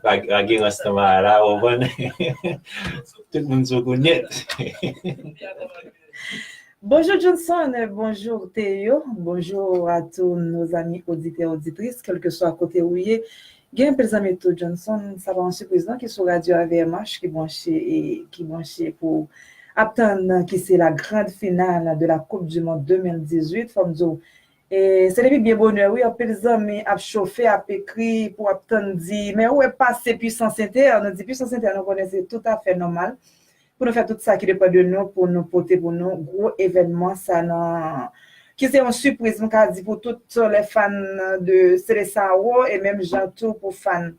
Lage rans nan Maya la ou konprann tout moun sou kou nèt. Bonjour Johnson, bonjour Théo, bonjour à tous nos amis auditeurs auditrices kelkeswa kote ou ye. Gen anpil zanmi tou Johnson, sa pa yon sipriz non ki sou radyo avmh ki branche e ki branche pou ap tann ki se la grand finale de la coupe du monde 2018 fòm di w Se depi byen bonè wi anpil zanmi ap chofe ap ekri pou ap tann di men ou wè pase puissance inter nou di puissance inter nou konnen se tout afè nòmal pou nou fè tout sa ki depan de nou pou nou pote pou nou gwo evènman sa nan ki se yon sipriz m ka di pou tout lè fan de Seleçao e menm jan tou pou fan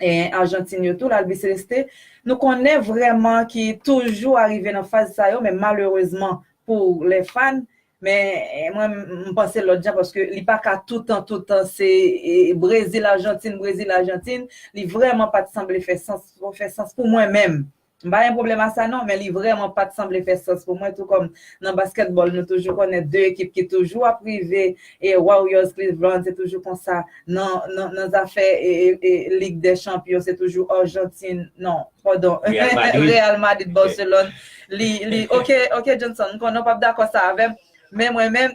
Argentine yo tou l Albiceleste nou konnen vrèman ki toujou arive nan faz sa yo men malerezman pou lè fan Men mwen m panse lòt jan paske li pa ka toutan toutan se Brezil Argentine Brezil Argentine li vrèman pat sanble fè sans fè sans pou mwen menm m pa gen pwoblèm a sa non men li vrèman pat sanble fè sans pou mwen tou kòm nan baskètbòl nou toujou konnen 2 ekip ki toujou ap rive e Warriors Cleveland se toujou konsa nan nan zafè e e lig dè chanpyon se toujou Argentine non Pardon Real Madrid Barcelone li ok ok Johnson m konnen ou pap dakò sa avèm men mwen menm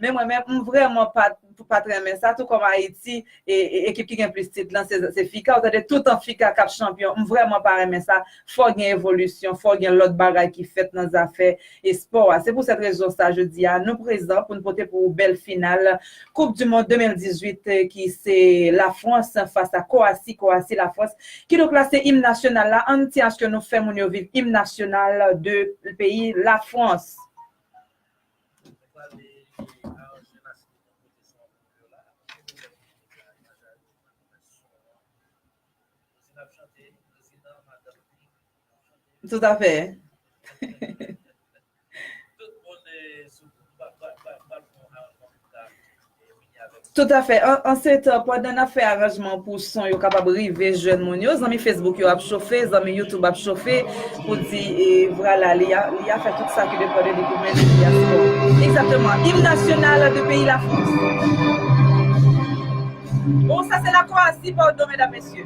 men mwen menm m vrèman pat pat renmen sa tou kòm Ayiti ekip ki gen plis tit lan se FICA ou tande toutan FICA kap chanpyon m vrèman pa renmen sa fò gen evolisyon fò gen lòt bagay ki fèt nan zafè Espò a. Se pou sèt rezon sa jodi a nou prezan pou n pote pou ou bèl final koup du mond 2018 ki se la Frans fas a Kowasi, Kowasi, la Frans. Kidonk la se im nasyonal la an ti aske nou fè moun yo viv im nasyonal de peyi la Frans. Tout a fè. Tout a fè. An se tan, pandan nan fè aranjman pou son yo kapab rive jwenn moun yo, zanmi Facebook yo ap chofe, zanmi YouTube ap chofe pou di e vwala li a fè tout sa ki depan de li pou mennen li a byen. Egzakteman. Im nasyonal de peyi Lafrans. Bon, sa se lakwa a si, padon medam mesye.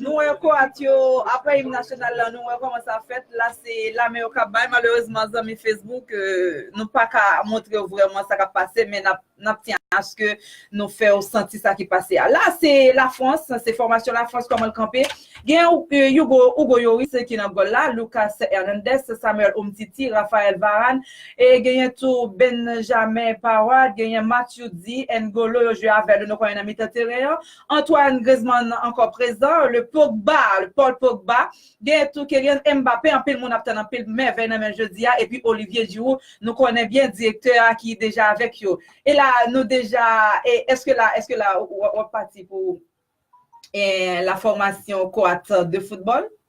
Nou wè Croate yo aprè hymne nasyonal lan nou wè kòman sa fèt la se lame yo kap bay malerezman zanmi Facebook nou paka montrew vrèman sa kap pase men nap tyen aske nou fèw santi sa ki pase a la se la France se fòmasyon la France kòmanl kanpe gen Hugo Hugo Yoris ki nan gòl la Lucas Hernandez Samuel Umtiti Raphael Varane e genyen tou Benjamin Pavard genyen Matuidi N'Golo yo jwe avèl nou konnen nan mitan teren an Antoine Griezmann ankò prezan, le Pogba, le Paul Pogba, gen tou Kylian Mbappé, anpil moun ap tann anpil mèvèy nan men l jodi a, epi Olivier Giroud, nou konnen byen direktè a ki deja avèk yo. E la nou deja, e èske la, èske la w ap pati pou la fòmasyon Croate de football?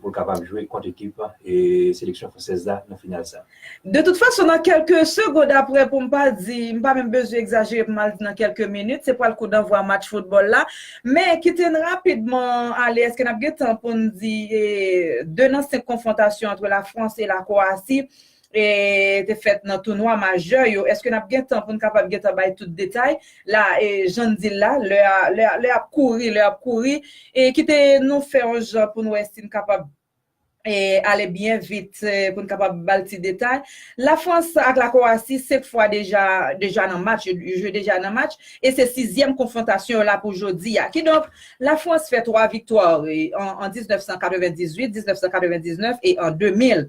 pou l kapab jwe kont ekip seleksyon fransèz la nan final sa. De tout fason nan kèlke segond aprè pou m pa di, m pa menm bezwen egzajere pou m al di nan kèlke minit, se pral kou danvwa match foutbòl la. Men, kite n rapidman ale, èske n ap gen tan pou n di 2 nan 5 konfwontasyon antre Lafrans e Lakwoasi te fèt nan tounwa majè yo, èske n ap gen tan pou n kapab gen tan bay tout detay la e jan n di l la, lè a, lè a, lè a ap kouri, lè a ap kouri e kite nou fè yon jan pou n wè si n kapab e ale byen vit pou n kapab ba l ti detay. Lafrans ak Lakowasi 5 fwa deja, deja nan match, yo jwe deja nan match e se sizyèm konfwontasyon yo la pou jodi a. Kidonk, Lafrans fè 3 viktwa an 1998, 1999 e an 2000.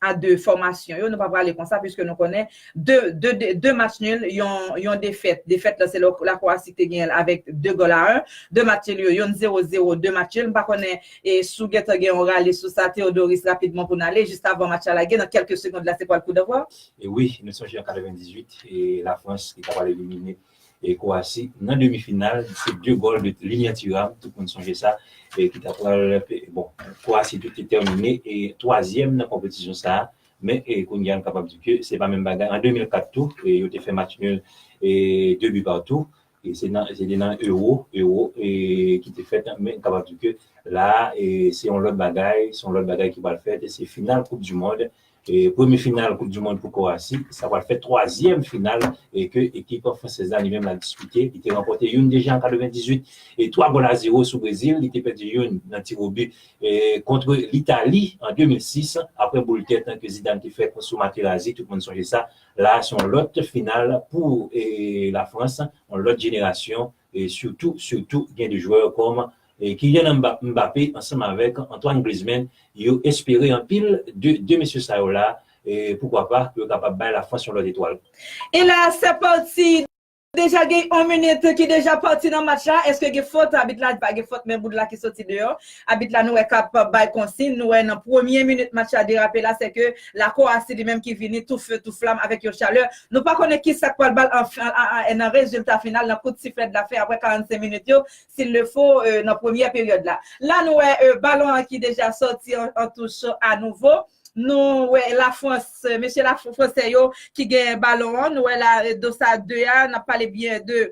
a 2 fòmasyon yo, nou pa prale konsa piske nou konnen 2 match nul, yon defèt, defèt la se La Croatie ki te genyen l avèk 2 gòl a 1, 2 match nul yo, yon 0, 0, 2 match nul, m pa konnen si w gentan gen yon rale sou sa Theodoris rapidman pou n ale jis avan match la lage nan kèlke segond la se pwal koudèvwa. Wi, nou sonje an 98 e Lafrans ki ta pwal elimine. e Kwasi nan demi final se 2 gòl de Lilian Thuram tout moun sonje sa e ki ta pral bon Kwasi te te tèmine e 3 zièm nan konpetisyon sa men e kounye a nou kapab di ke se pa menm bagay an 2004 tou e yo te fè match nul e 2 bi partou e se nan se te nan Euro Euro e ki te fèt men nou kapab di ke la a e se yon lòt bagay se yon lòt bagay ki pral fèt e se final koup du mond Premye final koup di mond pou Kowasi, sa pral fè twazyèm final ke ekip fransèz la li menm la dispite. Li te ranpòte youn deja an 98 e 3 gòl a zewo sou Brezil. Li te pèdi youn nan tiwobi kont Litali an 2006 aprè boul tèt ke Zidane te fè sou Materazzi, tout moun sonje sa. La a se yon lòt final pou Lafrans, yon lòt jenerasyon e sitou sitou gen 2 jwè kòm Kylian Mbappé ansanm avèk Antoine Griezmann, yo espere anpil de 2 mesye sa yo la, poukwa pa pou yo kapab bay la Frans yon lòt etwal. E la se pati, deja gen yon minit ki deja pati nan match la, eske gen fot, abit la di pa gen fot men Boudla ki soti deyò. Abit la nou wè kap bay konsign, nou wè nan premye minit match la derape la se ke La Croatie li menm ki vini tou feu tou flam avèk yon chalè, nou pa konnen kisak pral bal nan rezilta final nan kout siflèt la fen aprè 45 minit yo s'il le faut nan premyè peryòd la. La nou wè balon an ki deja sòti an touch a nouvo, nou wè La France mesye la fransè yo ki gen balon an, nou wè la Dossard 2 a, nap pale byen de.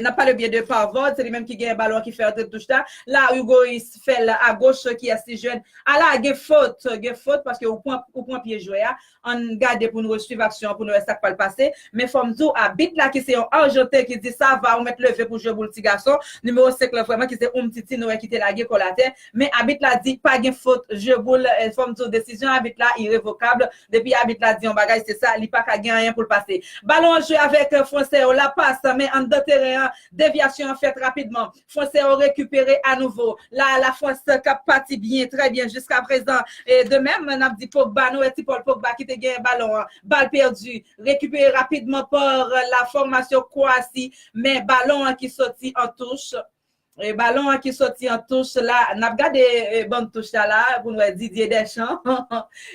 Nap pale byen de Parvord, se li menm ki genyen balon an ki fè antre touch la. La Hugois fè l a goch ki yès li jwenn. A la gen fot, gen fot paske ou pran ou pran pye jwè a. Ann gade pou nou resuiv aksyon an pou nou wè sak pral pase. Men fò m di w abit la ki se yon arjanten ki di sa va ou mèt leve pou jwe boul ti gason. Nimewo 5 lan vrèman ki se Umtiti nou wè ki te lage kò l atè. Men abit la di pa gen fot jwe boul. Fò m di w desizyon abit la irevokab Depi abit la di yon bagay se sa, li pa ka gen anyen pou l pase. Balon an jwe avèk Fransè yo, la pas, men anndan teren an, devyasyon an fèt rapidman. Fransè yo rekipere anouvo. La a Lafrans k ap pati byen, trè byen jiskaprezan. De mèm, n ap di Pogba, nou wè ti Paul Pogba ki te genyen balon an. Bal pèdi, rekipere rapidman pa la fòmasyon Kwowasi, men balon an ki soti an touch. Balon an ki soti an touch la nap gade bann touch la la pou n wè Didier Deschamps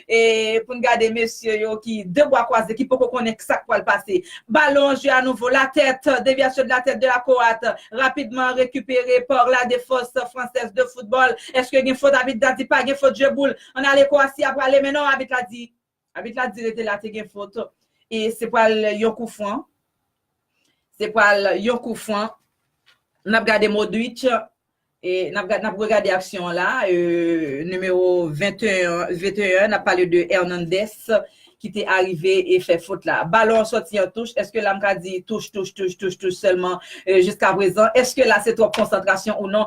e pou n gade mesye yo ki de bwa kwaze ki poko konnen sak pwal pase balon an jwe a nouvo la tèt devyasyon de la tèt de la koat rapidman rekipere par la defans fransèz de foutbòl eske gen fot abit la di pa gen fot je boul an ale kowasi a prale men non abit la di Abit la di rete la te gen fot. E se pral yon kou fran. Se pral yon kou fran. N ap gade Modric. E n ap gade, n ap regade aksyon an la. E nimewo 21, 21 n ap pale de Hernandez ki te arive e fè fot la. Balon an soti an touch. Eske la m ka di touch, touch, touch, touch, touch sèlman jiska prezan? Eske la se twòp konsantrasyon ou non?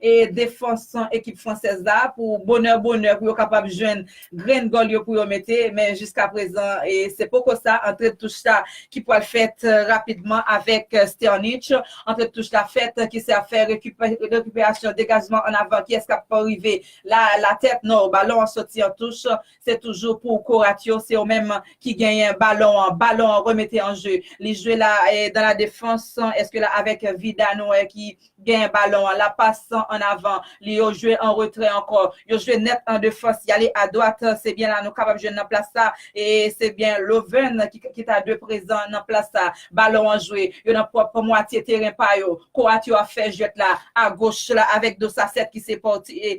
e defans ekip fransèz la pou bonè bonè pou yo kapab jwenn grenn gòl yo pou yo mete men jiska prezan se poko sa antre touch la ki pwal fèt rapidman avèk Sternitch antre touch la fèt ki se ap fè rekiperasyon degajman an avan kiyès kap pa rive la la tèt no balon an soti an touch se toujou pou koratyo se yo menm ki genyen balon an balon an remete an je li jwe la dan la defans eske la avèk vida nou wè ki Genyen balon an, la pas san an avan li, yo jwe an retrè ankò, yo jwe nèt an defans, y ale adwat, se byen la nou kapab jwenn nan plas sa, e se byen Lovern ki ta dwe prezan nan plas sa. Balon an jwe, yo nan pwòp mwatye teren pa yo, kwoat yo ap fè jwèt la, agoch la avèk Dosacet ki se pòtye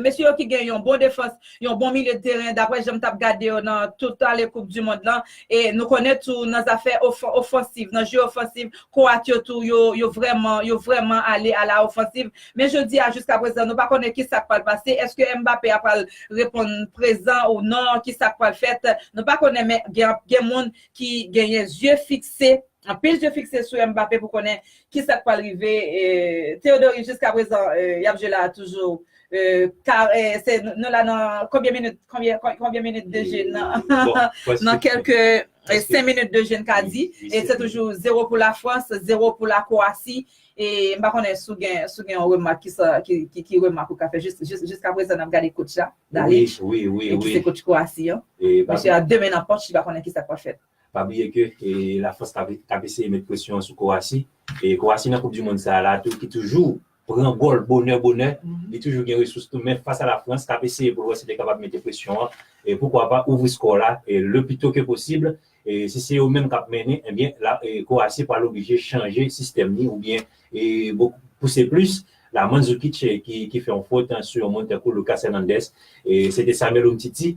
Mesye yo ki gen yon bon defans, yon bon milye de teren, daprè jan m t ap gade yo nan tout ale koup di mond lan, e nou konnen tou nan zafè ofansiv, nan jeu ofansiv, kwoat yo tou yo vrèman, yo vrèman ale a la ofansiv. Men jodi a jiska prezan nou pa konnen ki sa k pral pase, eske Mbappé a pral reponn prezan ou non, ki sa k pral fèt, nou pa konnen men gen moun ki genyen zye fikse. Anpil je fikse sou Mbappé pou konnen kisa k pral rive Théodory jiskaprezan y ap jwe la a toujou Nou la nan konbyen minit konbyen minit de je nan kèlke 5 minit de je n ka di se toujou 0 pou Lafrans 0 pou Lakowasi M pa konnen si w gen yon remak ki remak ou ka fè jiskaprezan n ap gade kotch la Dalic ki se kotch Kowasi an Misye a 2 men nan pòch li pa konnen kisa k pral fèt. Pa bliye ke e la Frans kap kap eseye met presyon sou Kowasi e Kowasi nan koup di mond sa la tou ki toujou pran gòl bonè bonè li toujou gen resous tou men fas a la Frans kap eseye pou l wè si li kapab mete presyon an e poukwa pa ouvri skò la e le pi to ke posib e si se yo menm kap mennen ebyen la e Kowasi pral oblije chanje sistèm li oubyen e bo pouse plis la Mandzukic ki ki fè yon fot sou yon moun tankou Lucas Hernandez e se te Samuel Umtiti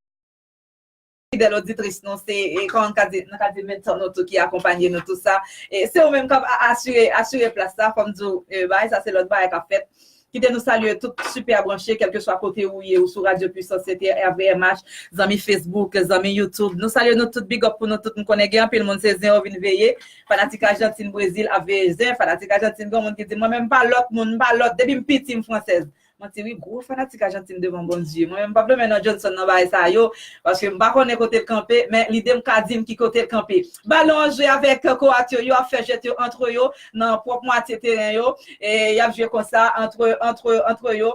Fidèl oditris nou se kòman m ka di nou ka di mentor nou tou ki akonpanye nou tou sa e se ou menm k ap asire asire plas sa fò m di w bagay sa se lòt bagay k ap fèt kite nou salye tout super branche kèlkeswa kote ou ye ou sou radyo puissance sete rvmh zanmi facebook zanmi youtube nou salye nou tout bigòp pou nou tout m konnen gen anpil moun se zen yo vin veye fanatik ajantin brezil ap veye zen fanatik ajantin gen yon moun ki di mwen menm m pa lòt moun m pa lòt depi m piti m fransèz Manti wi gwo fanatik ajantin devan Bondye. Mwen menm m pap lonmen non Johnson nan bagay sa yo paske m pa konnen kote l kanpe men lide m ka di m ki kote l kanpe. Balon an jwe avèk Kowat yo, yo ap fè jwèt yo antre yo nan pwòp mwatye teren yo e y ap jwe konsa antre antre antre yo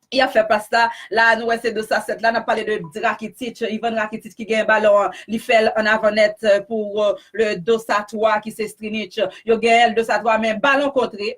y ap fè pas la. La a nou wè se dos a 7 la n ap pale de Rakitic, Ivan Rakitic ki genyen balon an li fè l an avan nèt pou le dos a 3 ki se Strinic. Yo genyen l dos a 3 men balon kontre.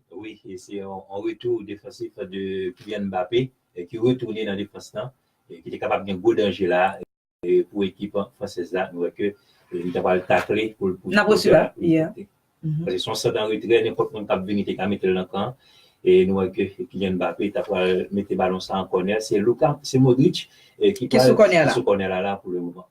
Wi, se yon retou defansif de Kylian Mbappé ki retounen nan defans lan ki te kapab gen gwo danje la pou ekip fransèz la. Nou wè ke li ta pral takle pou l pote. Nap reswiv la. Paske se yon sant an retrè, nenpòt moun kap vini te ka mete l nan kan. Nou wè ke Kylian Mbappé ta pral mete balon sa an kònè. Se Luka, se Modric ki pral ki sou kònè la pou le moman.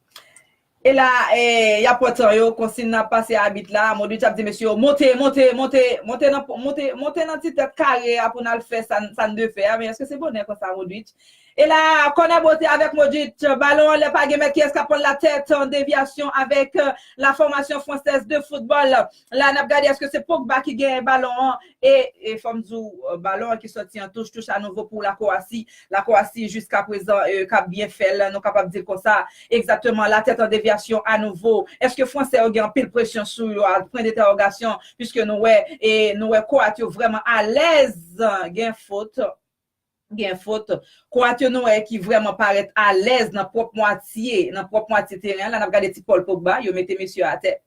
E la y ap pran tan yo, konsiy nan ap pase abit la, Modric ap di mesye yo monte, monte, monte, monte nan monte, monte nan ti tèt kare a pou n al fè sa n sa n dwe fè a, men èske se bonè konsa Modric? E la kònè bote avèk Modric, balon anlè pa gen men kiyès k ap pran l latèt, devyasyon avèk la fòmasyon Française de football, La nap gade eske se Pogba ki genyen balon an e fòm di w balon an ki sòti an touch, touch a nouvo pou la Kowasi, la Kowasi jiskaprezan kap byen fè l nou kapab di l konsa, egzakteman la tèt an devyasyon a nouvo, eske fransè yo gen anpil presyon sou yo a pwen detèwogasyon piske nou wè e nou wè Kowat yo vrèman alèz gen fot. Gen fot. Kwoat yo nou wè ki vrèman parèt alèz nan pwòp mwatye, nan pwòp mwatye teren an la, n ap gade ti Paul Pogba, yo mete mesye a atè.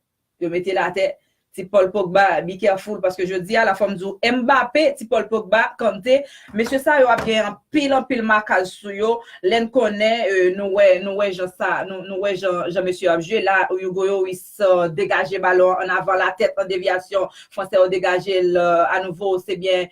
Yo mete l atè. Ti Paul Pogba, be careful paske jodi a la fò m di w Mbappé, ti Paul Pogba, Kanté, mesye sa yo ap gen anpil anpil makaj sou yo lè n konnen nou wè nou wè jan sa nou wè jan jan mesye yo ap jwe la Hugo Yoris degaje balon an ann avan latèt an devyasyon fransè yo degaje l anouvo se byen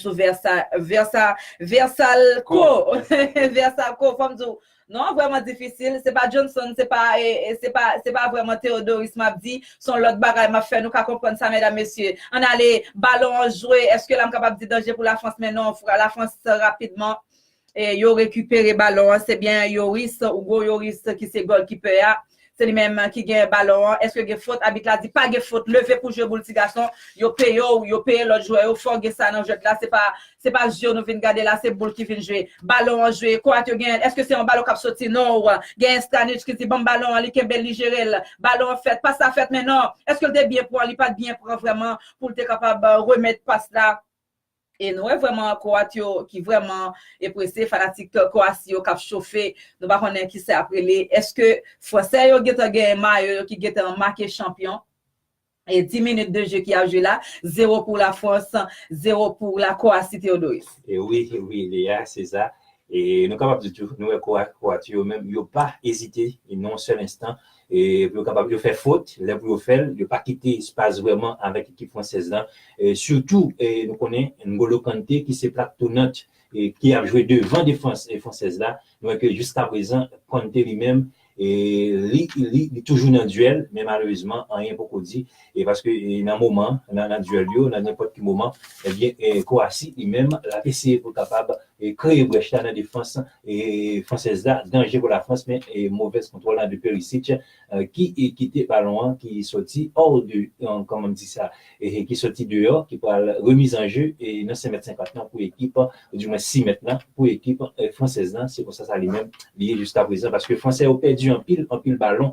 sou versa versa versalco versalco fòm di w non an vrèman difisil se pa Johnson se pa se pa se pa vrèman Theodoris map di son lòt bagay map fè nou ka konprann sa mèdam mesye ann ale balon an jwe eske la m kapab di danje pou la Frans men non la Frans rapidman Yo rekipere balon an se byen Yoris Hugo Yoris ki se gòlkipè a se li menm ki gen balon an eske gen fot abit la di pa gen fot leve pou jwe boul ti gason yo peye w yo peye lòt jwè yo fò w gen sa nan jwèt la se pa se pa zye w nou vin gade la se boul ki vin jwe balon an jwe Kroat yo genyen l eske se yon balon k ap soti non w genyen Stanic ki di ban m balon an li kenbe l li jere l balon an fèt pas la fèt men non eske l te byen pran li pa t byen pran vrèman pou l te kapab remèt pas la E nou wè vrèman Kowat yo ki vrèman e prese, fanatik Kowasi yo k ap chofe, nou pa konnen ki sa y ap rele. Èske Fransè yo gentan genyen mayo yo ki gentan make chanpyon? E di minit de je ki ap jwe la, zewo pou Lafrans, zewo pou la Kowasi, Theodoris. E wi, e wi Lea, se sa. E nou kapab di tou, nou wè Kowat yo menm, yo pa ezite yon sèl enstan E pou yo kapab yo fè fot, lè pou yo fè l, yo pa kite espas vrèman avèk ekip fransèz la. Sitou nou konnen N'Golo Kante ki se plak tounant ki ap jwe devan defans fransèz la. Nou wè ke jiskaprezan Kante li menm li toujou nan duèl men malerezman anyen poko di paske nan moman nan duèl yo nan nenpòt ki moman ebyen Kowasi li menm l ap eseye pou l kapab kreye brèch la nan defans fransèz la, danje pou Lafrans men movèz kontwòl Andre Perisic ki kite balon an ki soti hors de kòman m di sa ki soti deyò ki pral remise en jeu nan 5 mèt 50 lan pou ekip di mwen 6 mèt lan pou ekip fransèz lan se konsa sa li menm li ye jiskaprezan paske fransè yo pèdi anpil anpil balon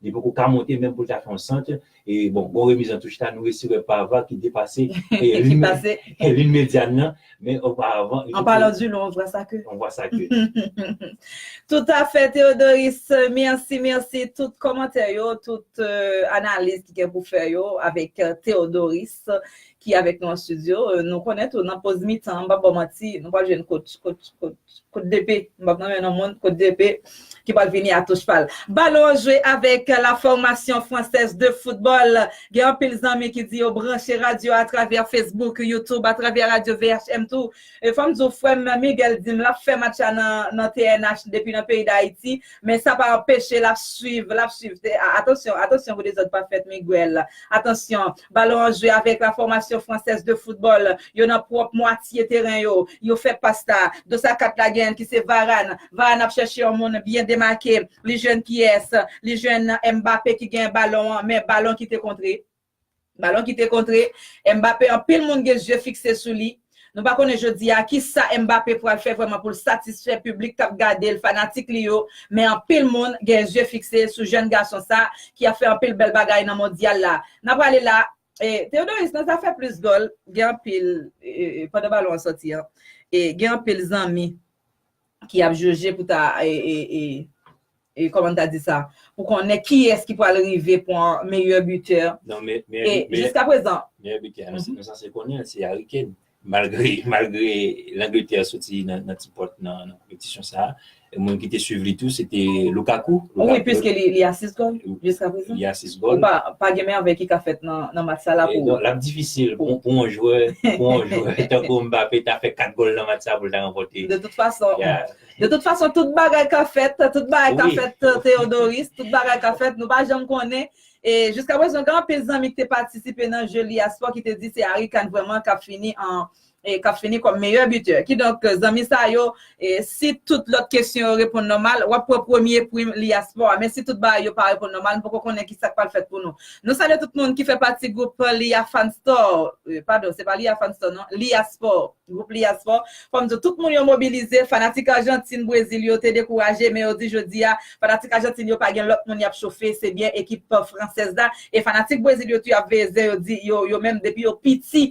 Li poko ka monte menm pou l ta fè yon sant. E bon, bon remiz an touche la, nou resi wè Parva ki depase lin medyàn nan. Men oparavan. An palan di nou, on vwa sa ke. On vwa sa ke. Toutafè Theodoris, mèsi, mèsi. Tout kòmantè yo, tout analiz ki gen pou fè yo avèk Theodoris. ki avèk nou an studio nou konnen tou nan poz mitan m pap baw manti nou pral jwenn coach coach coach coach DP m pap nonmen non moun coach DP ki pral vini a touch pal Balon an jwe avèk la fòmasyon fransèz de foutbòl gen anpil zanmi ki di yo branche radyo atravè Facebook YouTube atravè radyo VHM tou fò m di w frè m Miguel di m lap fè match la nan nan TNH depi nan peyi Dayiti men sa pa anpeche lap swiv lap swiv atansyon atansyon pou dezòd pa fèt Miguel atansyon. Balon an jwe avèk la fòmasyon Française de football. Yo nan pwòp mwatye teren yo. Yo fè pas la. Dos a 4 la genyen ki se Varane. Varane ap chèche yon moun byen demake. Li jwenn kiyès? Li jwenn Mbappé ki genyen balon an. Men balon ki te kontre. Balon ki te kontre. Mbappé anpil moun gen zye fikse sou li. Nou pa konnen jodi a ki sa Mbappé pral fè vrèman pou l satisfè piblik k ap gade l, fanatik li yo, men anpil moun gen zye fikse sou jèn gason sa ki ap fè anpil bèl bagay nan Mondyal la. N a prale la e. Theodoris, nan zafè plis gòl, gen anpil, pandan balon an sòti an, gen anpil zanmi. ki ap joje pou ta e kòman ta di sa pou konnen kiyès ki pral rive pwan meyè bitè e jiska prezan. Meyè bitè a nou sanse konnen se Harry Kane malgre malgre langletè soti nan ti pòt nan konpetisyon sa moun ki te swiv li tou se te Lukaku wi piske li a 6 gòl jiska prezan. Konpa, pa gen mèvèy ki ka fèt nan match sa la pou ou? L ap difisil pou yon jwè tankou Mbappé ta fè 4 gòl nan match sa pou l ta ranpòte. De tout fason, de tout fason tout bagay ka fèt, tout bagay ka fèt Theodoris, tout bagay ka fèt, nou pa janm konnen. E jiskaprezan gen anpil zanmi ki te patisipe nan je Liyaspò ki te di se Harry Kane vrèman k ap fini an e kap fini kòm meyè bitè. Kidonk zanmi sa yo e si tout lòt kesyon yo reponn nòmal wap pran premye prim Liaspo a. Men si tout bagay yo pa reponn nòmal m poko konnen ki sak pral fèt pou nou. Nou salye tout moun ki fè pati gwoup Lia Fan Store e padon se pa Lia Fan Store non Liaspo gwoup Liaspo. Fò m di w tout moun yo mobilize fanatik Arjantin Brezil yo te dekouraje men yo di jodi a fanatik Arjantin yo pa gen lòt moun yap chofe se byen ekip fransèz la e fanatik Brezil yo tou yap veye zen yo di yo yo menm depi yo piti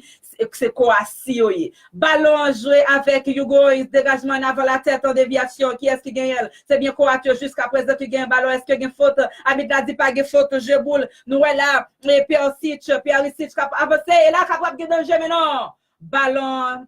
Se Koassi yo ye. Balon an jwe avèk Hugo Oris, degajman an avan latèt an devyasyon, kiyès ki genyen l? Se byen Koat yo jiska prezan ki genyen balon, èske gen fot? Abit la di pa gen fot, je boule, nou wè la e Persic, Perisic k ap avanse e la kapab gen danje men non, balon an.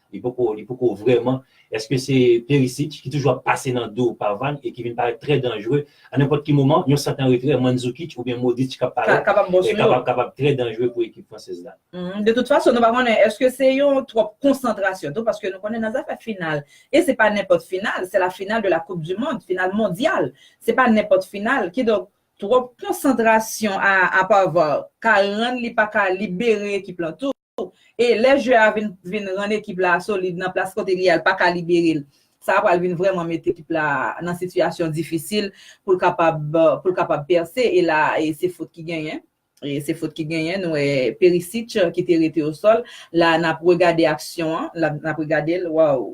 Li poko li poko vrèman. Eske se perisit ki toujou ap pase nan do Parvan e ki vin parèt trè danjre a nenpòt ki moman? Yon sant an retrè Mandzukic oubyen Modric k ap parèt Kapab bon sou yo. e kapab trè danjre pou ekip fransèz la. De tout fason, nou pa konnen eske se yon twòp konsantrasyon tou paske nou konnen nan zafè final e se pa nenpòt final, se la final de la koup di mond, final mondyal. Se pa nenpòt final. Kidonk, twòp konsantrasyon a Parvan ka rann li pa ka libere ekip lan tou. e lè jwè a vin vin rann ekip la solid nan plas kote li yal paka libere l sa pral vin vrèman met ekip la nan sitiyasyon difisil pou l kapab pou l kapab pèse e la se fot ki genyen e se fot ki genyen nou wè Perisic ki te rete o sòl la nap regade aksyon an nap regade l waww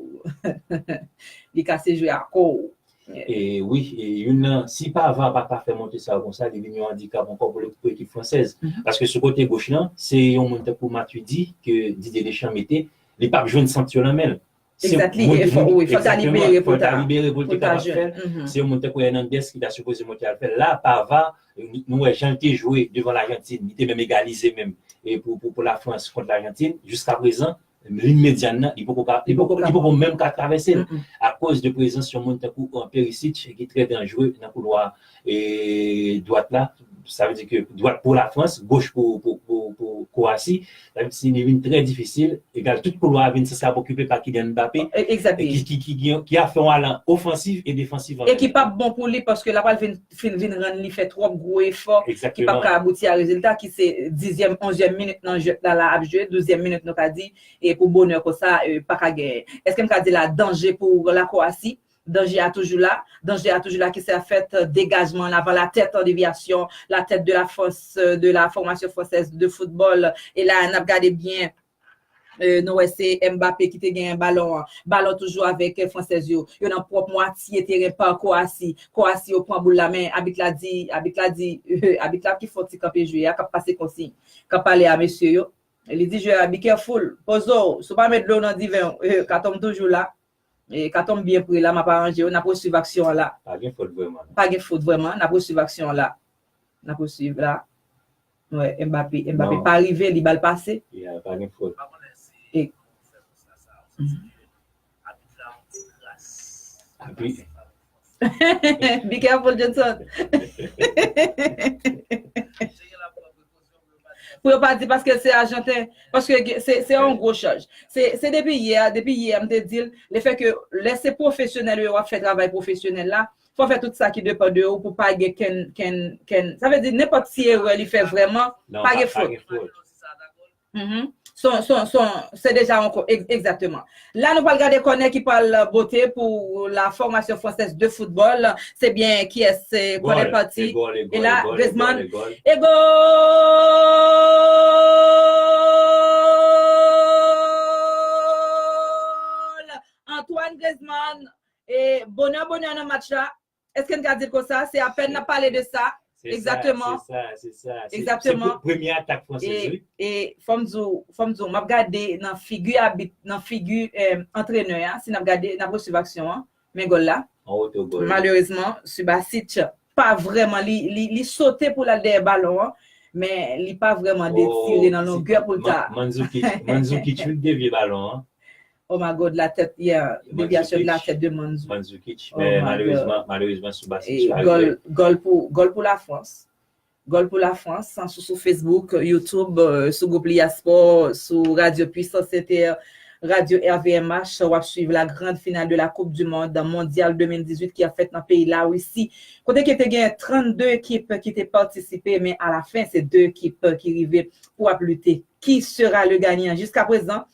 li kase jwe a kò w. Wi, youn nan, si Pavard a paka fè monte sa yo konsa, li vin yon andikap ankò pou ekip fransèz. Paske sou kote goch lan, se yon moun tankou Matuidi ke Didier Deschamps mete, li pap jwenn sant yo nan men l. Exactly, wi, fòk ta libere pou l ta libere pou l te kapab fè l. Se yon moun tankou Hernandez ki ta sipoze monte al fè l. La, Pavard, nou wè jan l te jwe devan Lajantin, li te menm egalize menm pou Lafrans kont Lajantin, jiskaprezan, Lin medyann nan, li poko ka, li poko menm ka travèse l, akoz de prezans yon moun tankou Perisic ki trè danjre nan koulwa dwat la, sa vle di ke dwat pou Lafrans, goch pou Kwowasi, sa vle di li vin trè difisil, egal tout koulwa a vin san sa okipe pa Kylian Mbappé, ki a fè yon alan ofansiv e defansiv anmenmtan. E ki pap bon pou li paske l ap pral vin fin vin rann li fè twòp gwo efò ki pap ka abouti a rezilta ki se dizyèm, onzyèm minit nan jwèt la la ap jwe, douzyèm minit nou ka di e pou bonè konsa pa ka genyen. Èske m ka di la danje pou la Kwowasi, danje a toujou la, danje a toujou la ki se ap fèt degajman an avan la tèt an devyasyon, la tèt de la fòs de la fòmasyon fransèz de foutbòl e la a n ap gade byen Nou wè se Mbappé ki te genyen balon an. Balon toujou avèk fransèz yo. Yo nan pwòp mwatye teren pa Kowasi. Kowasi yo pran boul la men abit la di, abit la di, abit la ki fon ti kanpe jwe a, k ap pase konsiy, k ap pale a mesye yo. Li di jwè a be careful, poze w, si w pa met dlo w nan diven w, katon m toujou la. Katon m byen pre la, m ap aranje w, n ap resuiv aksyon an la. Pa gen fot vrèman. Pa gen fot vrèman, n ap resuiv aksyon an la. N ap resuiv la. Wè Mbappé Mbappé pa rive li bal pase. Yeah pa gen fot. Be careful Jhonson. Pou yo pa di paske se ajanten, paske se yon gwo chaj. Se depi yè, depi yè m te di l, le fè ke lè se pwofesyonèl yo wap fè travay pwofesyonèl la, Fè w fè tout sa ki depan de ou pou pa gen kenn kenn kenn sa vle di nenpòt ti erè li fè vrèman pa gen fot. Non, pa gen fot. Uhmm son son son se deja yon ko egzakteman. La nou pral gade kònè ki pral bote pou la fòmasyon fransèz de foutbòl se byen kiyès se kònè pati e la Griezmann e goal Antoine Griezmann E bonè bonè nan match la, èske n ka di l konsa, se apèn n ap pale de sa, egzakteman, egzakteman, e fò m di w, fò m di w, m ap gade nan figi abit, nan figi antrenè a, si n ap gade, n ap resuiv aksyon an, men gòl la, malerezman, Subasic pa vrèman, li sote pou l al dèyè balon an, men li pa vrèman detire nan longè pou l ta. Mandzukic, Mandzukic vin devye balon an. Oh my God la tèt yeah deviation de la tèt de Mandzukic Mandzukic men malerezman malerezman Subasic pa rive Gòl pou gòl pou la France Gòl pou la France san sou sou Facebook YouTube sou group Lia Sport sou radio Puissance Inter radio RVMH wap swiv la grande finale de la coupe du monde mondial 2018 ki ap fèt nan peyi la Russie kote ke te gen 32 ekip ki te patisipe men a la fin se 2 ekip ki rive pou ap lite ki sera le gagnant jiska prezan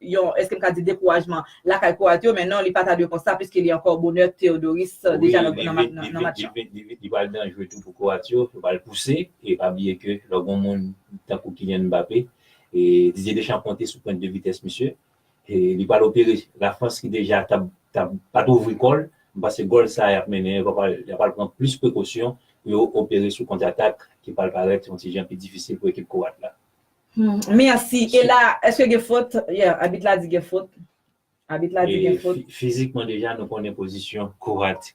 yon, èske m ka di dekourajman, lakay Kwoat yo, men non li pa ta dwe konsa piske li ankò bonè Teodoris deja nan match lan. Li pral danjre tou pou Kwoat yo, yo pral pouse e pa bliye ke lò gen yon moun tankou Kylian Mbappé, Didier Deschamps konte sou pwent de vitès misye, li pral opere Lafrans ki deja t ap pa t ouvri kò l, m panse gòl sa a y ap mennen yo pral pran plis prekosyon pou yo opere sou kontratak ki pral parèt yon ti jan pi difisil pou ekip Kwoat la. Humm merci e la eske gen fot yeah abit la di gen fot abit la di gen fot. Fizikman deja nou konnen pozisyon Kowati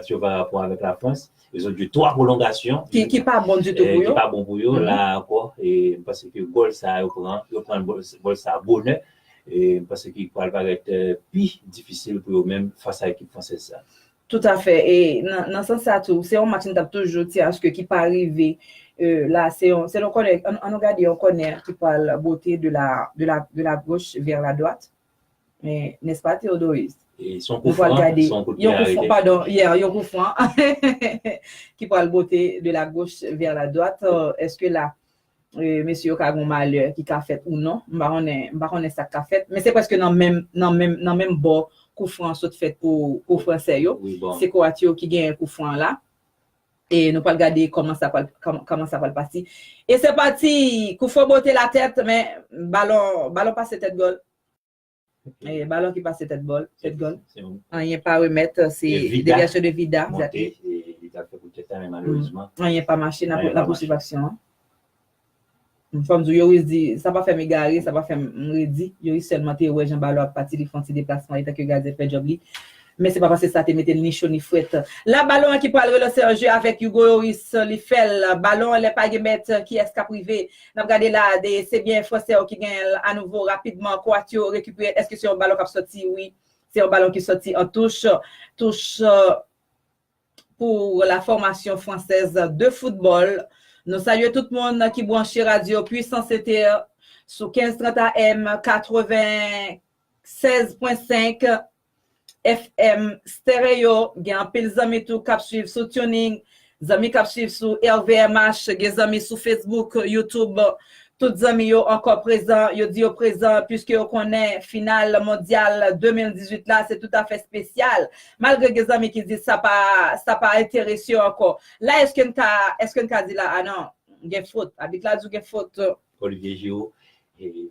yo pa rapò avèk la Frans e zòt jwe 3 pwolongasyon ki pa bon ditou pou yo ki pa bon pou yo la a ankò e m panse ke gòl sa a yo pran an yo pran gòl sa a bonè e m panse ke pral parèt pi difisil pou yo menm fas a ekip fransèz sa a. Tout a fè e nan sans sa tou se yon match m tap toujou ti aske ki pa rive la se yon se yon kònè an nou gade yon kònè ki pwal bote de la de la de la goch vè la dwat men nès pa Theodoris nou pwal gade son kout pye arete padon yeah yon kou fran ki pwal bote de la goch vè la dwat eske la Mesye yo ka gen yon malè ki ka fèt ou non. M pa konnen, m pa konnen sa k ka fèt. Men se prèske nan menm, nan menm, nan menm bò kou fran an sot fèt pou, pou franse yo. Se kwoat yo ki genyen kou fran an la. E nou pral gade kòman sa pral, kòman sa pral pati. E se pati! Kou fran bote la tèt, men balon, balon pase tèt gòl. Eh, balon ki pase tèt bòl, tèt gòl. Se yon Anyen pa remèt, se E Vida. devyasyon de Vida. monte e li ta fè kout tèt la men malerezman Anyen pa mache, nan Anyen pa nan pousuiv mache. aksyon an. M fòm di w, Yoris di, sa pa fè m egare, sa pa fè m m redi. Yoris sèlman te wè jan balon ap pati, li fè yon ti deplasman etan ke gadyen fè djòb li. Men se pa paske sa te mete l ni cho ni frèt. La balon an ki pral relanse an je avèk Hugo Yoris, li fè l, balon an lè pa gen mèt, kiyès k ap rive? Nap gade la a de se byen fransè yo ki genyen l anouvo rapidman kwoat yo rekipere l èske se yon balon kap sòti wi se yon balon ki sòti an touch touch pou la fòmasyon fransèz de foutbòl nou salye tout moun ki branche radyo pwisans ete sou 1530 AM 96 pwen 5 FM stereo, gen anpil zanmi tou kap swiv sou tuning, zanmi kap swiv sou rvmh, gen zanmi sou Facebook, YouTube, tout zanmi yo ankò prezan, yo di yo prezan puiske yo konnen final mondyal 2018 la se toutafè spesyal, malgre gen zanmi ki di sa pa sa pa enterese yo ankò. La eske n ka eske n ka di la a non gen fot, abit la di w gen fot. Olivier Giraud,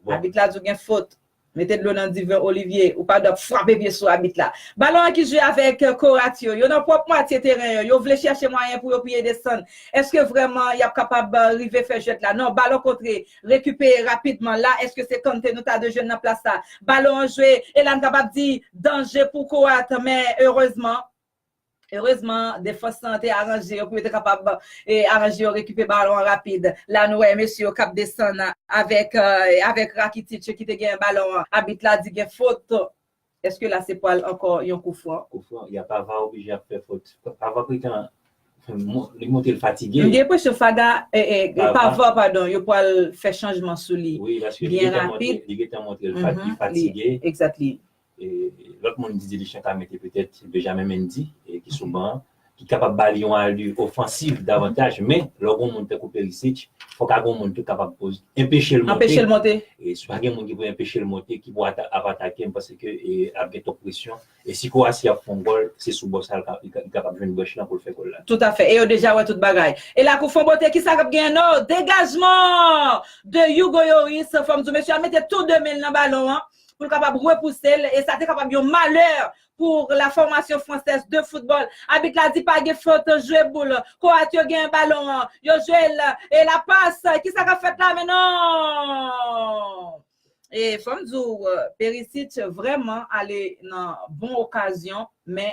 bon. Abit la di w gen fot. Mete dlo nan diven Olivier, ou pa dwe ap frape pye sou abit la. Balon an ki jwe avèk Korat yo, yo nan pwòp mwatye teren yo, yo vle chèche mwayen pou yo piye desann. Èske vrèman y ap kapab rive fè jwèt la? Non, balon kontre, rekipeye rapidman. La, èske se Kante nou ta dwe jwenn nan plas sa? Balon an jwe, e la n kapab di danje pou Korat, men erezman. Erezman defans lan te aranje yo pou yo te kapab aranje yo rekipe balon an rapid. La nou wè mesye yo k ap desann avèk Rakitic ki te genyen balon an. Abit la di gen fot. Eske la se pwal ankò yon kou fran? Kou fran, ya pa va oblije ap fè fot. Pa va pretan li montre l fatige. M gen enpresyon Faga, pa va padon, yo pwal fè chanjman sou li byen rapid. Wi paske li gentan montre li fatige. Exactly. Lòt moun Didier Deschamps ka mete petèt Benjamin Mendy ki sou ban an, ki kapab ba li yon alur ofansiv davantaj, men lè w gen yon moun tankou Perisic, fòk a gen yon moun tou kapab pou enpeche l monte. Anpeche l monte. E si pa gen moun ki pou enpeche l monte, ki pou ap atake m, panse ke ap gen twòp presyon. E si Croatie ap fè yon gòl, se sou bò sa li kapab jwenn brèch lan pou l fè gòl la. Toutafè. E yo deja wè tout bagay. E la kou fon bote, kisa k ap genyen nan? Degajman de Hugo Lloris, fò m di w mesye a mete tou de men l nan balon an, pou l kapab repouse l e sa te kapab yon malè pou la formation française de football. Abit la di pa gen fot, jwe boul. Kroat yo genyen balon an, yo jwe l e la passe, kisa k ap fèt la men non! E fò m di w Perisic vrèman ale nan bon okazyon men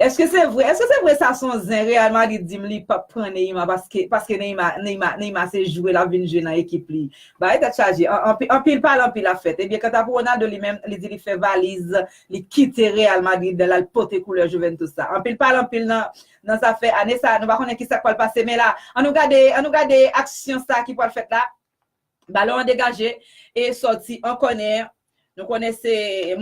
Eske se vre eske se vre sa son zen real madrid dim li pap pran Neymar paske paske Neymar Neymar Neymar se jwe lap vin jwe nan ekip li bagay tèt chaje anpi anpil pale anpil ap fèt ebyen kanta pou Ronaldo li menm li di li fè valiz li kite real madrid lal pote koulè juventus la anpil pale anpil nan nan zafè ane sa nou pa konnen kisak pwal pase men la an nou gade an nou gade aksyon sa ki pwal fèt la Balon an degaje e sòti an kònè. Nou konnen se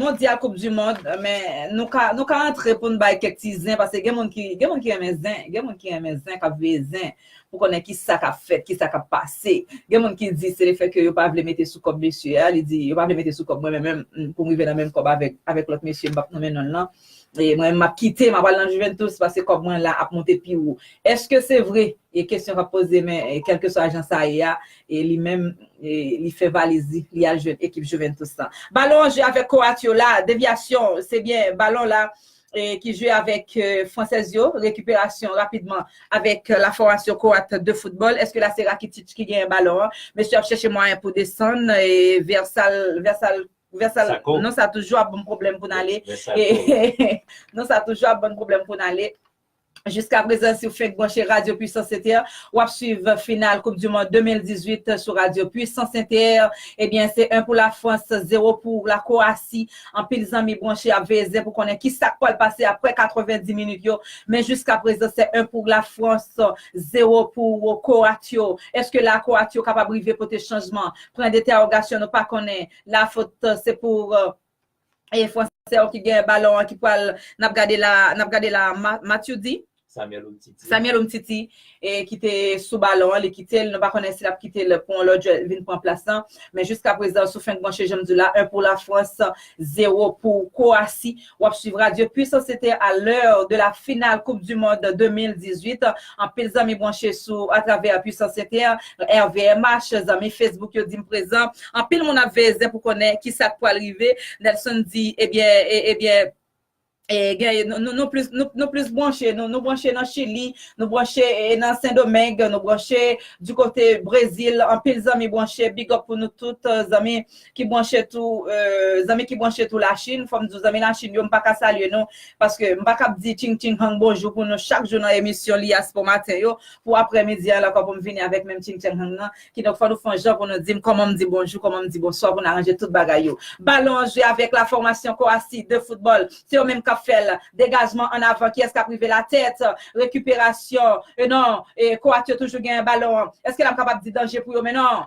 mondyal koup du mond men nou ka nou ka antre pou n bay kèk ti zen pase gen moun ki gen moun ki renmen zen gen moun ki renmen zen k ap veye zen pou konnen ki sa k ap fèt ki sa k ap pase gen moun ki di se lefèt ke yo pa vle mete sou kòb mesye a li di yo pa vle mete sou kòb mwen menm pou m rive nan menm kòb avèk avèk lòt mesye m p ap nonmen non l lan E mwen map kite map al nan Juventus paske kòb mwen la ap monte pi wo. Eske se vre? E kesyon kap poze men kelkeswa jan sa ye a e li menm li fè valiz li, li al jwenn ekip Juventus lan. Balon an jwe avèk Kroat yo la, devyasyon se byen balon la ki jwe avèk fransèz yo, rekiperasyon rapidman avèk la fòmasyon Kroat de foutbòl. Eske la se Rakitic ki genyen balon an? Mesye ap chèche mwayen pou desann e Versal Versal non sa toujou ap banm pwoblèm pou n ale non sa toujou ap banm pwoblèm pou n ale jiskaprezan si w fenk branche radyo pwisans inter w ap swiv final koup di mond 2018 sou radyo pwisans inter ebyen se 1 pou la frans 0 pou la kowasi anpil zanmi branche ap veye zen pou konnen ki sa k pral pase aprè 90 minit yo men jiskaprezan se 1 pou la frans 0 pou kowatyo eske la kowatyo kapab rive pote chanjman pran deterogasyon nou pa konnen la fot se pou e fransè yo ki gen balon an ki pwal nap gade la nap gade la Matthew di Samuel Umtiti e ki te sou balon an li kite l nou pa konnen si lap kite l pou yon lòt jwè vin pran plas lan men jiska prezan sou fenk manche janm di w la 1 pou la frans 0 pou kowasi. Wap swiv radio puissance cete a l'heure de la finale coupe du monde 2018 anpil zanmi branche sou a travè puissance cete rvmh zanmi facebook yo dim prezan anpil moun ap veye zen pou konnen ki sak pwal rive Nelson di ebyen ebyen nou plis branche nou branche nan chili nou branche nan sendomeng nou branche du kote brezil anpil zanmi branche big up pou nou tout zanmi ki branche tou zanmi ki branche tou la chine fòm di w zanmi la chine yo m pa ka salye nou paske m pa kab di ching ching hang bonjou pou nou chak jou nan emisyon li as pou maten yo pou aprè midi an lankò pou m vini avèk menm ching chang hang nan ki donk fò nou fon jan pou nou di m kòman m di bonjou kòman m di bonswa pou n aranje tout bagay yo balon an jwe avèk la fòmasyon kowasi de foutbòl se yo menm k ap fè l degajman an avan kiyès k ap rive la tèt rekiperasyon e non e kowat yo toujou genyen balon an èske la m kapab di danje pou yo men non.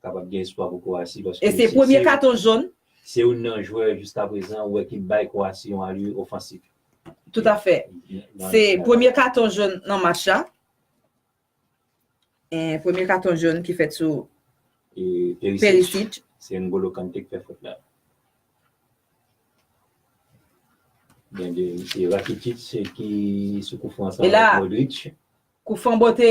kapab gen espwa pou Kwowasi paske se premye katon jòn. Se youn nan jwè jiskaprezan ou wè ki bay Kwowasi yon alye ofansif. Toutafè. Se premye katon jòn nan match la. Premye katon jòn ki fèt sou Perisic. Se N'Golo Kante ki fè fot la. Se Rakitic ki sou koufran sa ak Modric. E la, koufran bote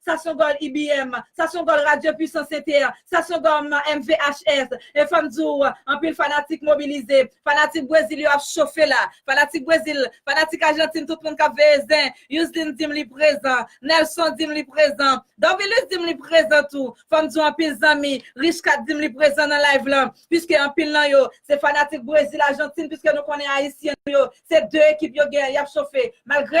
Sa son gòl IBM, sa son gòl Radio Puissance Inter, sa son gòl MVHS. E fò m di w, anpil fanatik mobilize. Fanatik Brezil yo ap chofe la. Fanatik Brezil, fanatik Ajantin tout moun k ap veye zen. Yusline di m li prezan. Nelson di m li prezan. Dorvilus di m li prezan tou. Fò m di w anpil zanmi, Richeckat di m li prezan nan live lan. Piske anpil nan yo, se fanatik Brezil Ajantin piske nou konnen Ayisyen yo, se 2 ekip yo gen y ap chofe. Malgre.